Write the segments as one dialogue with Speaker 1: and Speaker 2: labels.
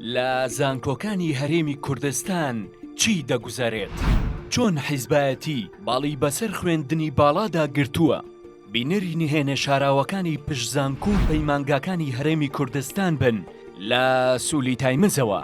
Speaker 1: لە زانکۆکانی هەرێمی کوردستان چی دەگوزەرێت؟ چۆن حیزبایەتی باڵی بەسەر خوێندنی باڵادا گرتووە؟ بینەری نهێنێ شاراوەکانی پشت زانکۆ و پەیمانگاکانی هەرێمی کوردستان بن لە سولی تایمزەوە.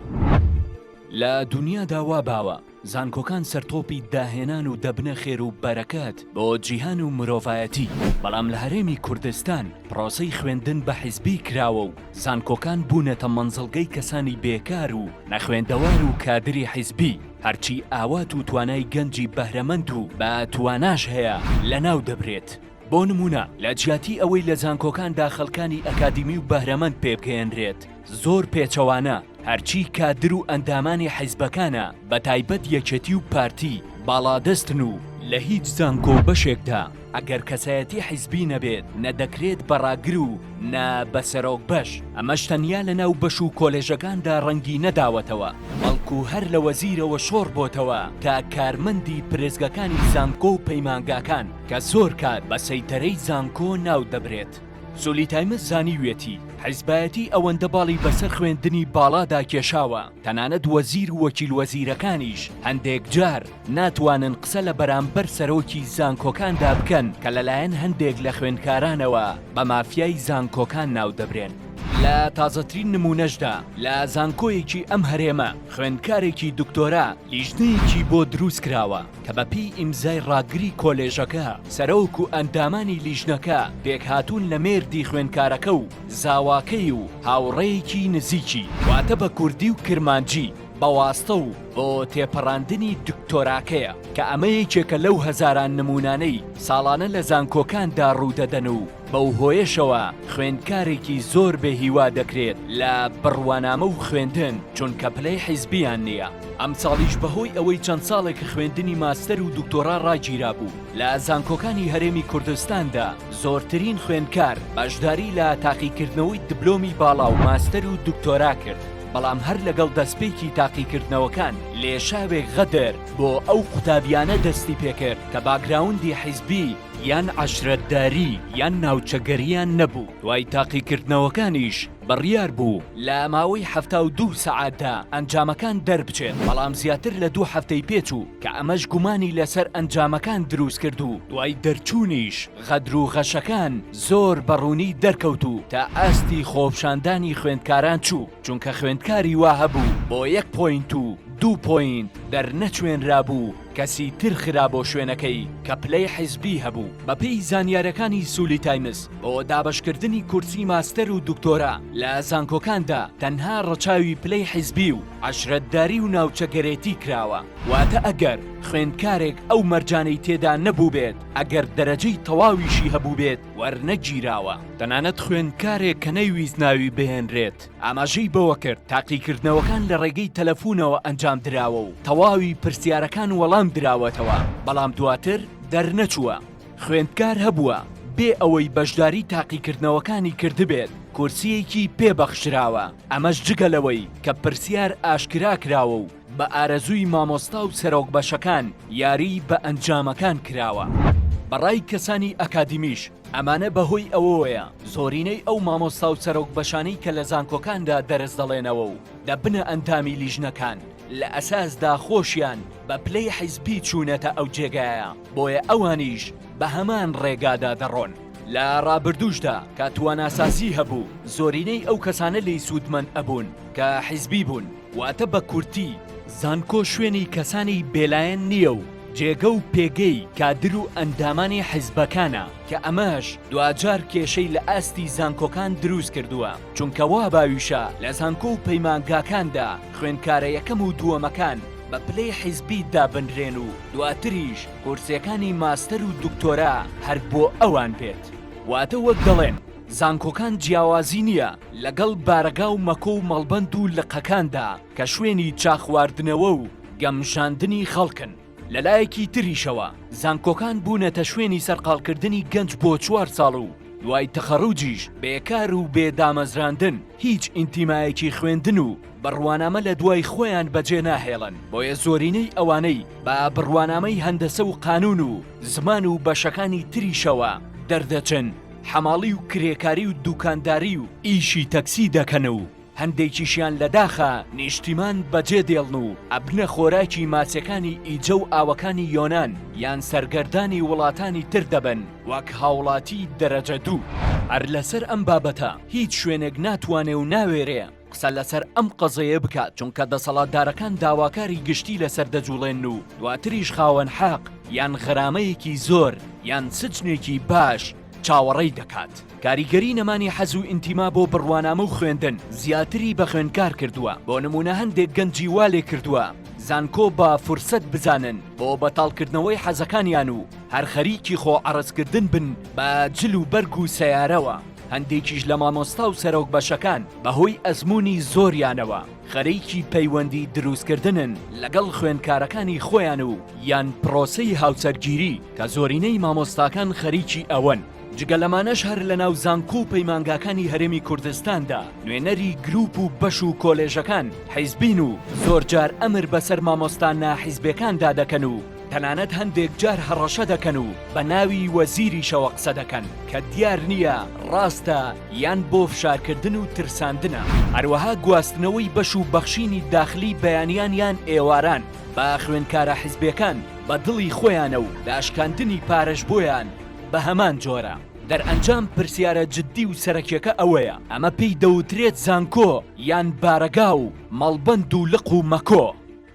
Speaker 1: لە دونیادا وا باوە زانکۆکان سەرتۆپی داهێنان و دەبنە خێر و بەرەکەت بۆ جیهان و مرۆڤایەتی، بەڵام لە هەرێمی کوردستان پڕۆسەی خوێندن بە حیزبی کراوە و زانکۆکان بوونەتە مەنزڵگەی کەسانی بێکار و نەخوێندەوار و کادری حیزبی، هەرچی ئاوات و توانای گەنجی بەهرەمەند و با تواناش هەیە لەناو دەبرێت. بۆ نموونە لە جیاتی ئەوەی لە زانکۆکاندا خەڵکانی ئەکادیمی و بەهرەمەند پێبگەیەنرێت زۆر پێچەوانە هەرچی کادر و ئەندامانی حیزبەکانە بە تایبەت یەکێتی و پارتی باڵادەستن و لە هیچ زانکۆ و بەشێکدا ئەگەر کەسایەتی حیزبی نەبێت نە دەکرێت بە ڕاگر و نە بە سەرۆک بەش ئەمەش تەنیا لە ناو بەش و کۆلێژەکاندا ڕەنگی نەداوەتەوە بەڵکو هەر لە وەزیرەوە شۆڕ بۆتەوە تا کارمەندی پرێزگەکانی زانکۆ و پەیمانگاکان. کە زۆر کات بە سەیتەرەی زانکۆ ناودەبرێت، سولی تایمز زانیویەتی حیزبایەتی ئەوەندە باڵی بەسەر خوێندنی باڵادا کێشاوە، تەنانەت وەزیر و وەکیل وەزیرەکانیش هەندێک جار ناتوانن قسە لە بەرامبەر سەرۆکی زانکۆکاندا بکەن کە لەلایەن هەندێک لە خوێندکارانەوە بە مافیای زانکۆکان ناودەبرێن. لە تازەترین نمونەشدا لە زانکۆیەکی ئەم هەرێمە، خوێندکارێکی دکتۆرا لیژنەیەکی بۆ دروستکراوە، کە بە پێی ئیمزای ڕاگری کۆلێژەکە، سەرۆک و ئەندامانی لیژنەکە پێکهاتوون لە مێردی خوێندکارەکە و زاواکەی و هاوڕێیەکی نزیکی، واتە بە کوردی و کرمانجی، بە واستە و بۆ تێپەڕاندنی دکتۆراکەیە، کە ئەمە یەکێکە لەو هەزاران نموونانەی ساڵانە لە زانکۆکاندا ڕوودەدەن و، بەو هۆیەشەوە خوێندکارێکی زۆر بێ هیوا دەکرێت لە بڕوانامە و خوێندن چونکە پلەی حیزبیان نییە ئەمساڵیش بەهۆی ئەوەی چەند ساڵێک خوێندنی ماستەر و دکتۆرا ڕاگیرابوو لە زانکۆکانی هەرێمی کوردستاندا زۆرترین خوێندکار بەشداری لە تاقیکردنەوەی دبلۆمی باڵا و ماستەر و دکتۆرا کرد بەڵام هەر لەگەڵ دەستپێکی تاقیکردنەوەکان لێشاوێک غەدر بۆ ئەو قوتابیانە دەستی پێکرد کە باکگراوندی حیزبی یان عەشرەتداری یان ناوچەگەرییان نەبوو، دوای تاقیکردنەوەکانیش بڕیار بوو لە ماوەی حەفتا و دوو سەعاتدا ئەنجامەکان دەربچێت، بەڵام زیاتر لە دوو هەفتەی پێچوو کە ئەمەش گومانی لەسەر ئەنجامەکان دروستکرد و دوای دەرچوونیش غەدر و غەشەکان زۆر بە ڕوونی دەرکەوت و تا ئاستی خۆپشاندانی خوێندکاران چوو، چونکە خوێندکاری وا هەبوو بۆ یەک پۆینت و دوو پۆینت دەرنەچوێنرابوو، کەسی تر خرا بۆ شوێنەکەی کە پلەی حیزبی هەبوو، بەپێی زانیارەکانی سولی تایمز بۆ دابەشکردنی کورسی ماستەر و دکتۆرا لە زانکۆکاندا تەنها ڕەچاوی پلەی حیزبی و عەشرەتداری و ناوچەگەرێتی کراوە، واتە ئەگەر خوێندکارێک ئەو مەرجانەی تێدا نەبووبێت ئەگەر دەرەجەی تەواویشی هەبووبێت وەرنەگیراوە. تەنانەت خوێندکارێک کە نەیویست ناوی بهێنرێت، ئاماژەی بەوەکرد، تاقیکردنەوەکان لە ڕێگەی تەلەفونەوە ئەنجامدراوە و تەواوی پرسیارەکان وەڵام دراوەتەوە، بەڵام دواتر دەرنەچووە خوێندکار هەبووە بێ ئەوەی بەشداری تاقیکردنەوەکانی کردبێت کورسییەکی پێبەخشراوە، ئەمەش جگە لەوەی کە پرسیار ئاشکراکراوە و بە ئارەزووی مامۆستا و سەرۆک بەشەکان یاری بە ئەنجامەکان کراوە. بە ڕای کەسانی ئەکادیمیش ئەمانە بە هۆی ئەوەوەیە زۆرینەی ئەو مامۆستا و سەرۆک بەشانەی کە لە زانکۆکاندا دەرس دەڵێنەوە و دەبنە ئەندامی لیژنەکان لە ئەساسدا خۆشیان بە پلەی حیزبی چوونەتە ئەو جێگایە بۆیە ئەوانیش بە هەمان ڕێگادا دەڕۆن. لە ڕابردووشدا کە تواناسازی هەبوو زۆرینەی ئەو کەسانە لێی سوودمەند ئەبوون کە حیزبی بوون، واتە بە کورتی زانکۆ شوێنی کەسانی بێلایەن نییە و جێگە و پێگەی کادر و ئەندامانی حیزبەکانە کە ئەمەش دواجار کێشەی لە ئاستی زانکۆکان دروست کردووە چونکە وا باویشە لە زانکۆ و پەیمانگاکاندا خوێندکارە یەکەم و دووەمەکان بە پلەی حیزبی دابنرێن و دواتریش کورسێکانی ماستەر و دکتۆرا هەر بۆ ئەوان بێت واتە وەک دەڵێن زانکۆکان جیاوازی نییە لەگەڵ بارەگا و مەکۆ و مەڵبەند و لقەکاندا کە شوێنی چاخواردنەوە و گەمژاندنی خەڵکن. لەلایەکی تریشەوە زانکۆکان بوونەتە شوێنی سەرقاڵکردنی گەنج بۆ چوار ساڵ و دوای تەخەڕوجیش بێکار و بێ دامەزراندن هیچ ئینتیمایەکی خوێندن و بڕوانامە لە دوای خۆیان بەجێ ناهێڵن بۆیە زۆرینەی ئەوانەی بە بڕوانامەی هەندەسە و قانون و زمان و بەشەکانی تریشەوە دەردەچن حەماڵی و کرێکاری و دوکانداری و ئیشی تەکسی دەکەن و هەندێکیشیان لە داخا نیشتیمان بەجێ دێڵن و ئەبنە خۆراکی ماسیەکانی ئیجە و ئاوەکانی یۆنان یان سەرگەردانی وڵاتانی تر دەبن وەک هاوڵاتی دەرەجە دوو. هەر لەسەر ئەم بابەتە هیچ شوێنێک ناتوانێ و ناوێرێ قسە لەسەر ئەم قەزەیە بکات چونکە دەسەڵاتدارەکان داواکاری گشتی لەسەر دەجوڵێن و دواتریش خاوەن حەق یان غەرامەیەکی زۆر یان سجنێکی باش چاوەڕێی دەکات. کاریگەری نەمانی حەز و ئینتیما بۆ بڕوانامە و خوێندن زیاتری بە خوێندکار کردووە، بۆ نموونە هەندێک گەنجی وا لێ کردووە زانکۆ بە فرسەت بزانن بۆ بەتاڵکردنەوەی حەزەکانیان و هەر خەریکی خۆ عەڕەزکردن بن بە جل و بەرگ و سەیارەوە. هەندێکیش لە مامۆستا و سەرۆک بەشەکان بەهۆی ئەزموونی زۆریانەوە خەریکی پەیوەندی دروستکردنن لەگەڵ خوێندکارەکانی خۆیان و یان پرۆسەی هاوسەرگیری کە زۆرینەی مامۆستاکان خەریکی ئەوەن. جگە لەمانەش هەر لەناو زانکۆ و پەیمانگاکانی هەرێمی کوردستاندا نوێنەری گروپ و بەش و کۆلێژەکان حیزبین و زۆرجار ئەمر بەسەر مامۆستا ناحیزبێکاندا دەکەن و تەنانەت هەندێک جار هەڕەشە دەکەن و بە ناوی وەزیریشەوە قسە دەکەن کە دیار نییە ڕاستە یان بۆ فشارکردن و ترساندنە. هەروەها گواستنەوەی بەش و بەخشینی داخلی بەیانیان یان ئێواران بە خوێندکارە حزبێکان بە دڵی خۆیانە و داشکاندنی پارەش بۆیان بە هەمان جۆرە. دەرئەنجام پرسیارە جدی و سەرەکیەکە ئەوەیە ئەمە پێی دەوترێت زانکۆ یان بارەگا و مەڵبەند و لق و مەکۆ؟